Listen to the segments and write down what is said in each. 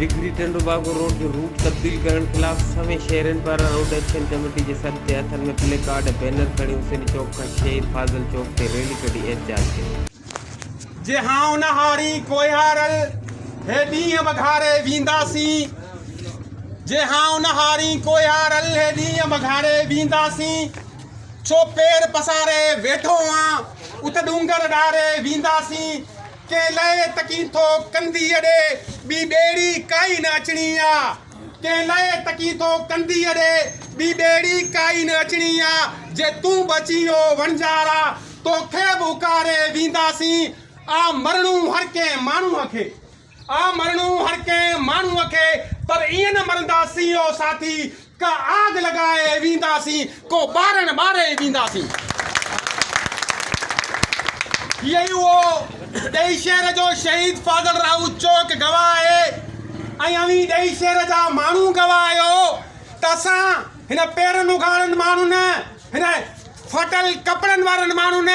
Digri Tando Bago road جو route تبديل ڪرڻ خلاف سوين شهرين پاران روڊ ايڪشن ڪميٽي جي سڏ تي هٿن ۾ پلي ڪارڊ ۽ بينر کڻي حسيني چوڪ کان شهيد فاضل چوڪ تي ريلي ڪڍي احتجاج ڪيو. جي ها اونهاري ڪوهيارل هي ڏينهن وغاري وينداسين جي ها اونهاري ڪوهيارل هي ڏينهن وغاري وينداسين. ڇو پير پساري ويٺو آن، اٿ ڏونگر ڏاري وينداسين، ڪنهن لئه تڪين ٿو ڪنڌيء ڏي، ٻي ٻيڙي ڪائي نه اچڻي آ، ڪنهن لئه تڪين ٿو ڪنڌيء ڏي، ٻي ٻيڙي ڪائي نه اچڻي آ، جي تون به اچين او وڻجارا، توکي به اڪاري وينداسين، آ مرڻو هر ڪنهن ماڻهوء کي. آ مرڻو هر ڪنهن ماڻهوء کي پر ائين نه مرندا سين او ساٿي ڪا آگ لڳائي ويندا سين ڪو ٻارڻ ٻاري ويندا سين هي ئي اهو ڏهي شهر جو شهيد فاضل راهو چوڪ گواهه آهي ۽ اوهين ڏهي شهر جا ماڻهو گواهه آهيو ته اسان هن پيرن اگهاڙن ماڻهن هن ڦاٽل ڪپڙن وارن ماڻهن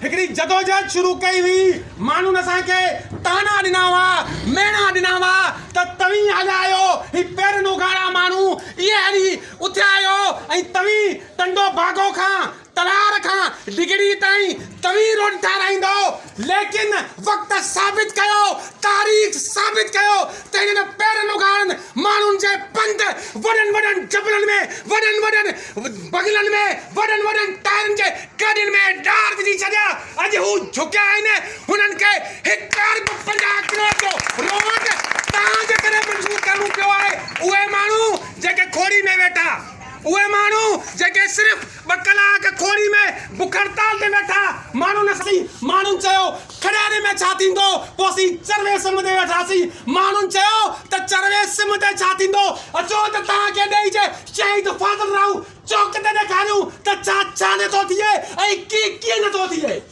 هڪڙي جدوجهد شروع ڪئي هئي. ماڻهن اسان کي طعنا ڏنا هئا، ميڻا ڏنا هئا ته توهين هليا آهيو، هي پيرن اگهاڙا ماڻهو اهي هلي اٿيا آهيو ۽ توهين ٽنڊو باگو کان تلار کان ڊگهڙي تائين توهين روڊ ٺهرائيندؤ، ليڪن وقت ثابت ڪيو، تاريخ ثابت ڪيو ته هنن پيرن اگهاڙن ماڻهن جي پنڌ وڏن وڏن جبلن ۾ وڏن وڏن بغلن ۾ وڏن وڏن ٽائرن جي گاڏين ۾ ڏار وجهي ڇڏيا. اڄ هو جهڪيا آهن، هنن کي هڪ ارب پنجاهه ڪروڙ جو روڊ توهان جي ڪري منظور ڪرڻو پيو آهي. اهي ماڻهو جيڪي کوڙي ۾ ويٺا، اهي ماڻهو جيڪي صرف ٻه ڪلاڪ کوڙي ۾ بک هڙتال تي ويٺا ماڻهو نه سهي، ماڻهن چيو کڙهيري ۾ ڇا ٿيندو، پوء اسين چروي سم ڏي ويٺاسين، ماڻهن چيو ته چروي سم ڏي ڇا ٿيندو، اچو ته توهان کي ڏيئي جي شهيد فاضل راهو چوڪ تي ڏيکاريون ته ڇا ڇا نه ٿو ٿئي ۽ ڪي ڪي نه ٿو ٿئي.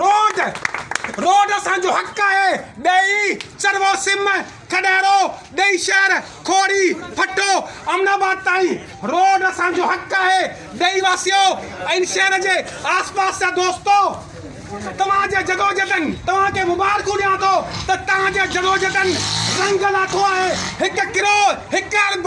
روڊ روڊ اسان جو حق آهي ڏهي، چروو سم، کڏهرو، ڏهي شهر، کوڙي، ڦٽو، امن آباد تائين روڊ اسان جو حق آهي ڏهي واسيو ۽ شهر جي آس پاس جا دوستو توهان جي جدوجھدن توهان کي مبارڪون ڏيان ٿو ته تهان جي جدوجھدن رنگ لاٿو آهي هڪ ڪروڙ هڪ ارب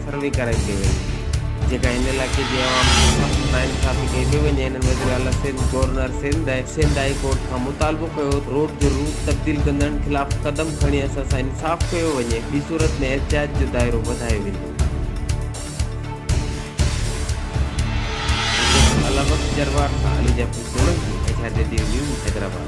سروي ڪرائي پئي وڃي جيڪا هن علائقي جي عوام کي سخت ناانصافي ڪئي پئي وڃي هنن وزيراعليٰ Sindh, governor Sindh ۽ Sindh high court کان مطالبو ڪيو ته روڊ جو روٽ تبديل ڪندڙن خلاف قدم کڻي اسان سان انصاف ڪيو وڃي ٻي صورت ۾ احتجاج جو دائرو وڌايو ويندو. ايڊيو سنڌ الهه بخش جروار سان Ali Jafri Solangi, H R Jadeed news, Hyderabad.